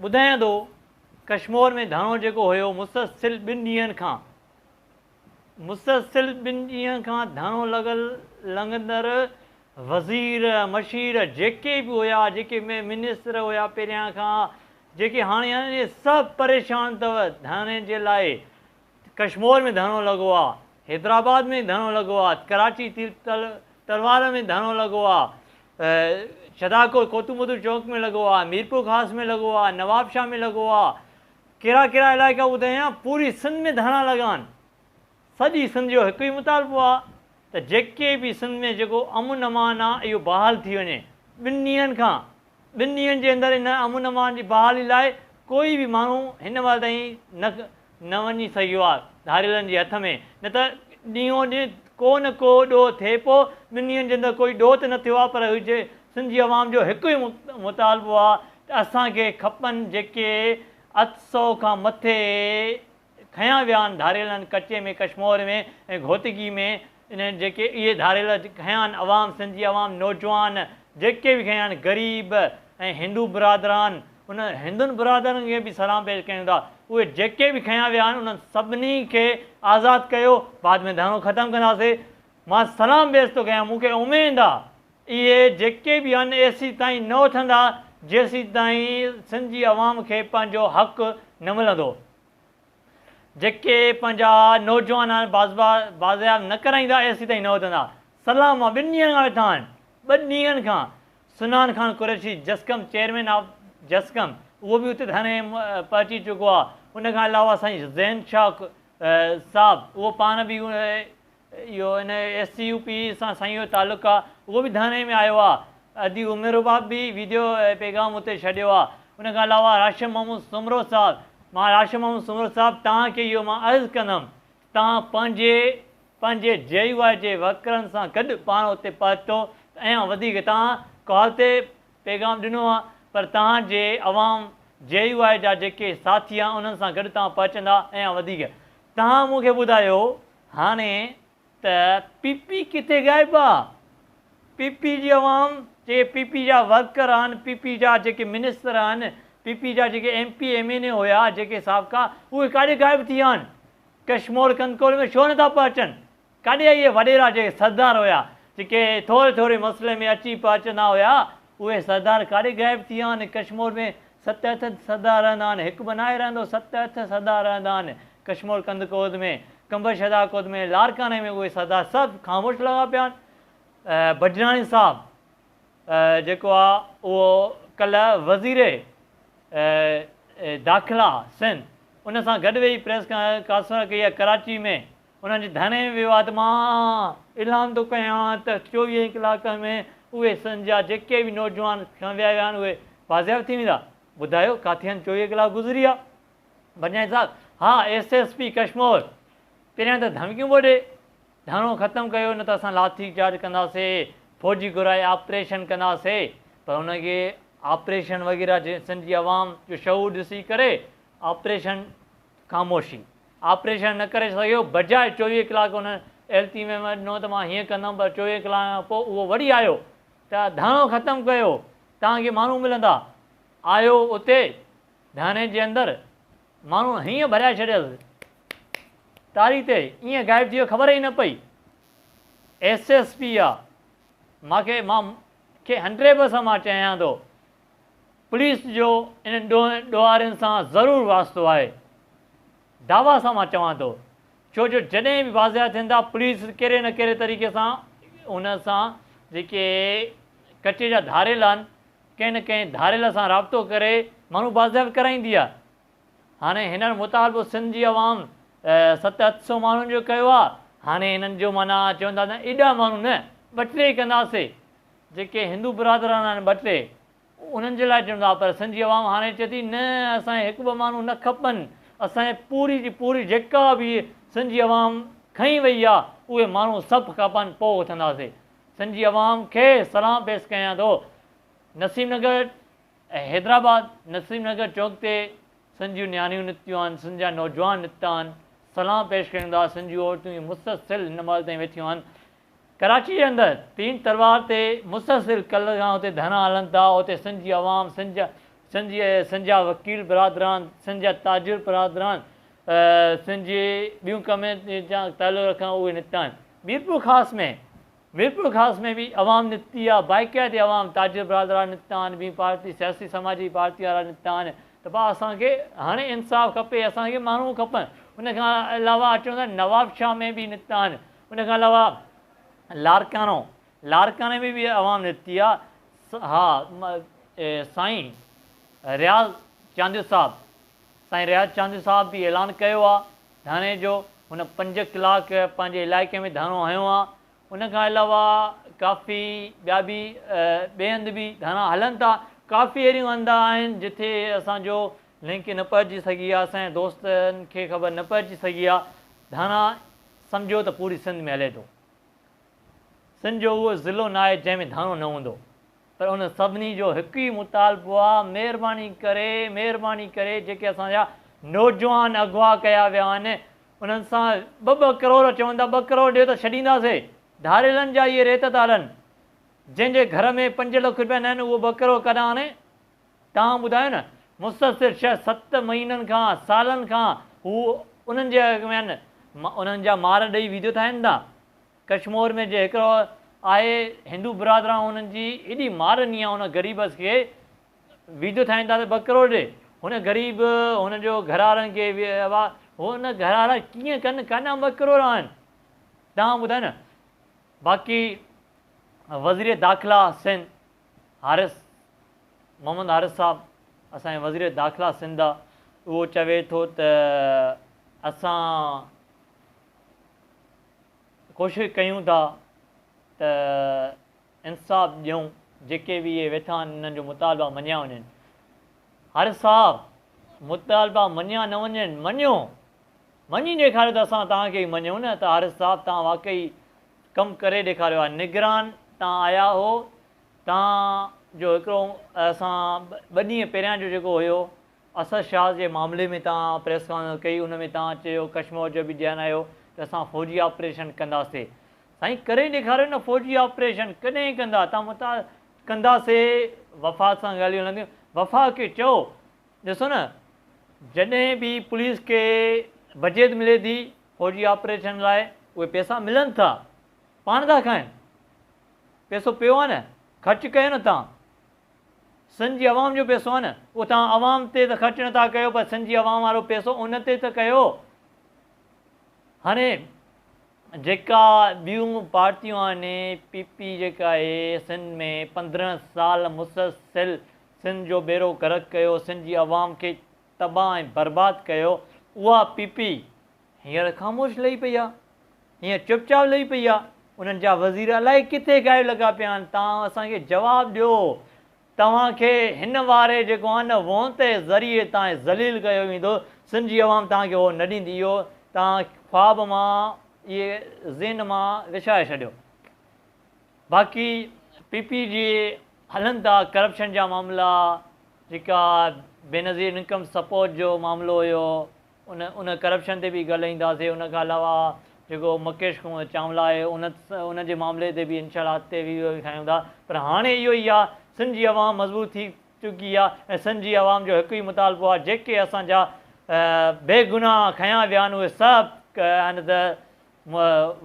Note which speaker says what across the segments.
Speaker 1: ٻڌايان ٿو ڪشمور ۾ ڌرڻو جيڪو هيو مسلسل ٻن ڏينهن کان مسلسل ٻن ڏينهن کان ڌرڻو لڳل لنگندر وزير مشير جيڪي به هيا جيڪي منسر هيا پهريان کان جيڪي هاڻي سڀ پريشان اٿو ڌرڻي جي لاء ته ڪشمور ۾ ڌرڻو لڳو آ، حيدرآباد ۾ ڌرڻو لڳو آ، ڪراچي تير تل تلوار ۾ ڌرڻو لڳو آ، شھداڪوٽ ڪوتو مدو چوڪ ۾ لڳو آ، ميرپور خاص ۾ لڳو آ، نوابشاھ ۾ لڳو آ، ڪھڙا ڪھڙا علائقا ٻڌايان، پوري سنڌ ۾ ڌرڻا لڳا آھن. سڄي سنڌ جو ھڪ ئي مطالبو آ ته جيڪي به سنڌ ۾ جيڪو امن امان آ اھو بحال ٿي وڃي، ٻن ڏينھن کان ٻن ڏينهن جي اندر ان امن امان جي بحالي لاء ڪوئي به ماڻهو هن وهل تائين نه نه وڃي سگهيو آهي ڌاڙيلن جي هٿ ۾ نه ته ڏينهون ڏينهن ڪو نه ڪو ڏوهه ٿئي پو ٻن ڏينهن جي اندر ڪوئي ڏوهه ته نه ٿيو آهي پر هجي سنڌ جي عوام جو هڪ ئي مطالبو آهي ته اسان کي کپن جيڪي اٺ سؤ کان مٿي کنيا ويا آھن ڌاڙيل آھن ڪچي ۾ ڪشمور ۾ ۽ گھوٽڪي ۾ انھن جيڪي اھي ڌاڙيل کنيا آھن عوام سنڌي عوام نوجوان جيڪي به کنيا آھن غريب ۽ ھندو برادران ان ھندن برادران کي به سلام پيش ڪيون ٿا اھي جيڪي به کنيا ويا آھن انھن سڀني کي آزاد ڪيو بعد ۾ ڌرڻو ختم ڪنداسي مان سلام پيش ٿو ڪيان مون کي اميد آ اهي جيڪي به آهن ايسي تائين نه اٿندا جيسي تائين سنڌ جي عوام کي پنهنجو حق نه ملندو جيڪي پنهنجا نوجوان آهن بازبا بازياب نه ڪرائيندا ايسي تائين نه اٿندا سلام مان ٻن ڏينهن کان ويٺا آهن ٻه ڏينهن کان سنان خان قريشي جسقم چيئرمين آف جسقم اهو به اتي ڌرڻي پهچي چڪو آهي ان کان علاوه سائين ذهن شاهه صاحب اهو پاڻ به اهو ان ايس سي يو پي سان سائين جو تعلق آ اهو به ڌيان ۾ آيو آ ادي عمر رباب به ويڊيو پيغام اتي ڇڏيو آ ان کان علاوه راشد محمود سومرو صاحب مان راشد محمود سومرو صاحب توهان کي اهو مان عرض ڪندم توهان پنهنجي پنهنجي جي يو آء جي ورڪرن سان گڏ پاڻ اتي پهتو ته ايان وڌيڪ توهان ڪال تي پيغام ڏنو آ پر توهان جي عوام جي يو آء جا جيڪي ساٿي آ انهن سان گڏ توهان پهچندا ايان وڌيڪ توهان مون کي ٻڌايو هاڻي ته پي پي ڪٿي غائب آ؟ پي پي جي عوام چي پي پي جا ورڪر آهن، پي پي جا جيڪي منسٽر آهن، پي پي جا جيڪي M P M N A هيا جيڪي سابقا اهي ڪاڏي غائب ٿي ويا آهن؟ ڪشمور ڪنڪول ۾ ڇو نٿا پهچن؟ ڪاڏي اهي وڏيرا جيڪي سردار هيا جيڪي ٿوري ٿوري مسئلي ۾ اچي پهچندا هيا اهي سردار ڪاڏي غائب ٿي ويا آهن؟ ڪشمور ۾ ست هٿ سردار رهندا آهن، هڪ به ناهي رهندو، ست هٿ سردار رهندا آهن. ڪشمور ڪنڌ ڪوڌ ۾، قمبر شهداء ڪوڌ ۾، لاڙڪاڻي ۾ اهي سردار سڀ خاموش لڳا پيا آهن. بجراڻي صاحب جيڪو آ اهو ڪلهه وزير داخلا سنڌ ان سان گڏ ويهي پريس ڪانسفرنس ڪئي آهي ڪراچي ۾. انهن جي ڌرڻي وواد مان اعلان ٿو ڪيان ته چوويهن ڪلاڪن ۾ اهي سن جا جيڪي به نوجوان کڻيا ويا آهن اهي بازياب ٿي ويندا ٻڌايو ڪاٿي آهن چوويهه ڪلاڪ گذري ويا بنجائي صاحب ها ايس ايس پي ڪشمور پهريان ته ڌمڪيون پيو ڏي ڌرڻو ختم ڪيو نه ته اسان لاٿي چارج ڪنداسي فوجي گهرائي آپريشن ڪنداسي پر ان کي آپريشن وغيره جي سن جي عوام جو شعور ڏسي ڪري آپريشن خاموشي. آپريشن نه ڪري سگهيو، بجاء چوويهه ڪلاڪ ان التيميم ڏنو ته مان هيئن ڪندم پر چوويهه ڪلاڪن کان پوء اهو وري آيو ته ڌرڻو ختم ڪيو، توهان کي ماڻهو ملندا. آيو اتي ڌرڻي جي اندر، ماڻهن هيئن ڀريائي ڇڏيس ٽاري تي، ائين غائب ٿي ويو خبر ئي نه پئي. ايس ايس پي آ، مان کي مان کي هنڊريڊ پرسنٽ مان چيان ٿو پوليس جو انهن ڏوهين ڏوهارين سان ضرور واسطو آهي. دعويٰ سان مان چوان ٿو. ڇو جو جڏهن به واضح ٿين ٿا پوليس ڪهڙي نه ڪهڙي طريقي سان ان سان جيڪي ڪچي جا ڌاريل آهن ڪنهن نه ڪنهن ڌاريل سان رابطو ڪري ماڻهو بازياب ڪرائيندي آهي. هاڻي هنن مطالبو سنڌ جي عوام ست اٺ سئو ماڻهن جو ڪيو آهي هاڻي هنن جو معنيٰ چون ٿا ته ايڏا ماڻهو نه ٻه ٽي ڪنداسي جيڪي هندو برادران آهن ٻه ٽي انهن جي لاء چئون ٿا پر سنڌي عوام هاڻي چئي ٿي نه اسان کي هڪ ٻه ماڻهو نه کپن اسان کي پوري جي پوري جيڪا به سنڌي عوام کنئي وئي آ اهي ماڻهو سڀ کپن پو اٿنداسي سنڌي عوام کي سلام پيس ڪيان ٿو نسيم نگر ۽ حيدرآباد نسيم نگر چوڪ تي سنڌيون نياڻيون نڪتيون آهن سنڌيا نوجوان نڪتا آهن سلام پيش ڪريون ٿا سنڌيون عورتون مسلسل هن مهل تائين ويٺيون آهن ڪراچيء اندر تين تلوار تي مسلسل ڪلهه کان اتي ڌرڻا هلن ٿا، اتي سنڌ جي عوام، سنڌ جا سنڌ جي سنڌ جا وڪيل برادران، سنڌ جا تاجر برادران، سنڌ جي ٻيون ڪميونٽين سان تعلق رکن اهي نڪتا آهن. ميرپور خاص ۾ ميرپور خاص ۾ به عوام نڪتي آهي، باقاعدي عوام تاجر برادران نڪتا آهن، ٻين پارٽي سياسي سماجي پارٽي وارا نڪتا آهن ته ڀا اسان کي هاڻي انصاف کپي، اسان کي ماڻهو کپن، ان کان علاوه اچو ته نوابشاهه ۾ به نڪتا آهن، ان کان علاوه لارڪاڻو لارڪاڻي ۾ به عوام نڪتي آ ها سائين رياض چانديو صاحب سائين رياض چانديو صاحب به اعلان ڪيو آ ڌرڻي جو هن پنج ڪلاڪ پنهنجي علائقي ۾ ڌرڻو هنيو آ ان کان علاوه ڪافي ٻيا به ٻئي هنڌ به ڌرڻا هلن ٿا ڪافي اهڙيون هنڌ آهن جتي اسان جو لنڪ نه پهچي سگهي آ سائين دوستن کي خبر نه پهچي سگهي آ ڌانا سمجهو ته پوري سنڌ ۾ هلي ٿو سنڌ جو اهو ضلعو ناهي جنهن ۾ ڌاڻو نه هوندو پر ان سڀني جو هڪ ئي مطالبو آ مهرباني ڪري مهرباني ڪري جيڪي اسان جا نوجوان اغوا ڪيا ويا آهن انهن سان ٻه ٻه ڪروڙ چون ٿا ٻه ڪروڙ ڏيو ته ڇڏينداسين ڌاريلن جا اهي ريت ٿا هلن جنهن جي گهر ۾ پنج لک روپيا نه آهن اهو ٻه ڪروڙ ڪڏهن آڻي توهان ٻڌايو نه مستصر شهر ست مهينن کان سالن کان هو انهن جي اڳ ۾ آهن انهن جا مار ڏئي ويديو ٺاهين ٿا ڪشمور ۾ جي هڪڙو آهي هندو برادران انهن جي ايڏي مار ڏني آهي ان غريب اس کي ويديو ٺاهين ٿا ته ٻه ڪروڙ ڏي هن غريب هن جو گهرارن کي هن گهرارا ڪيئن ڪن ڪاڏا ٻه ڪروڙ آهن توهان ٻڌايو نه باقي وزير داخلا سن حارث، محمد حارث صاحب اسان جي وزير داخلا سنڌ آ اهو چوي ٿو ته اسان ڪوشش ڪيون ٿا ته انصاف ڏيون جيڪي به اهي ويٺا آهن انهن جو مطالبا مڃيا وڃن حارث صاحب مطالبا مڃيا نه وڃن مڃيو مڃي ڏيکاريو ته اسان توهان کي ئي مڃون نه ته حارث صاحب توهان واقعي ڪم ڪري ڏيکاريو آهي نگران تان آيا هو توهان جو هڪڙو اسان ٻه ڏينهن پهريان جو جيڪو هيو اسد شاز جي معاملي ۾ توهان پريس ڪانفرنس ڪئي ان ۾ توهان چيو ڪشمور جو به ڌيان آيو ته اسان فوجي آپريشن ڪنداسي سائين ڪري ڏيکاريو نه فوجي آپريشن ڪڏهن ڪندا توهان متعال ڪنداسي وفاق سان ڳالهيون هلنديون وفاق کي چئو ڏسو نه، جڏهن به پوليس کي بجيت ملي ٿي فوجي آپريشن لاء، اهي پيسا ملن ٿا، پاڻ ٿا کائن. پيسو پيو آهي نه، خرچ ڪيو نه توهان. سنڌ جي عوام جو پيسو آهي نه، اهو توهان عوام تي ته خرچ نٿا ڪيو پر سنڌ جي عوام وارو پيسو ان تي ته ڪيو. هاڻي جيڪا ٻيون پارٽيون آهن، پي پي جيڪا آهي سنڌ ۾ پندرهن سال مسلسل سنڌ جو ٻيڙو غرق ڪيو سنڌ جي عوام کي تباھ ۽ برباد ڪيو اها پي پي هينئر خاموش لهي پئي آ هينئر چپ چاپ لهي پئي آ انهن جا وزير الائي ڪٿي غائب لڳا پيا آهن تان اسان کي جواب ڏيو توهان کي هن واري جيڪو آهن نه وونتي ذريعي تان ذليل ڪيو ويندو سنڌ جي عوام توهان کي اهو نه ڏيندي اهو توهان خواب مان اهي ذهن مان وسائي ڇڏيو باقي پي پي جي هلن ٿا ڪرپشن جا معاملا جيڪا بينظير انڪم سپورٽ جو معاملو هيو ان ان ڪرپشن تي به ڳالهائينداسي ان کان علاوه جيڪو مڪيش چانولا آهي ان ان جي معاملي تي به انشاء الله اڳتي به اهو کائيون ٿا پر هاڻي اهو ئي آهي سنڌ جي عوام مضبوط ٿي چڪي آهي ۽ سنڌ جي عوام جو هڪ ئي مطالبو آهي جيڪي اسان جا بي گناهه کنيا ويا آهن اهي سڀ آهن ته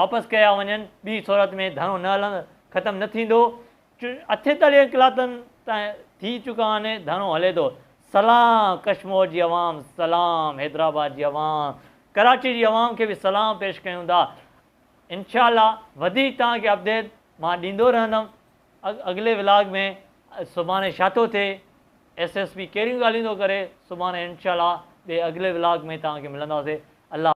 Speaker 1: واپس ڪيا وڃن ٻي صورت ۾ ڌرڻو نه هلندو ختم نه ٿيندو اٺين تاليهن ڪلاتن تائين ٿي چڪا آهن ڌرڻو هلي ٿو سلام ڪشمور جي عوام سلام حيدرآباد جي عوام ڪراچي جي عوام کي به سلام پيش ڪيون ٿا انشاء الله وڌيڪ توهان کي اپڊيٽ مان ڏيندو رهندم اڳلي ولاگ ۾ سڀاڻي ڇا ٿو ٿئي ايس ايس پي ڪهڙيون ڳالهيون ٿو ڪري سڀاڻي انشاء الله ٻي اڳلي ولاگ ۾ توهان کي ملنداسي الله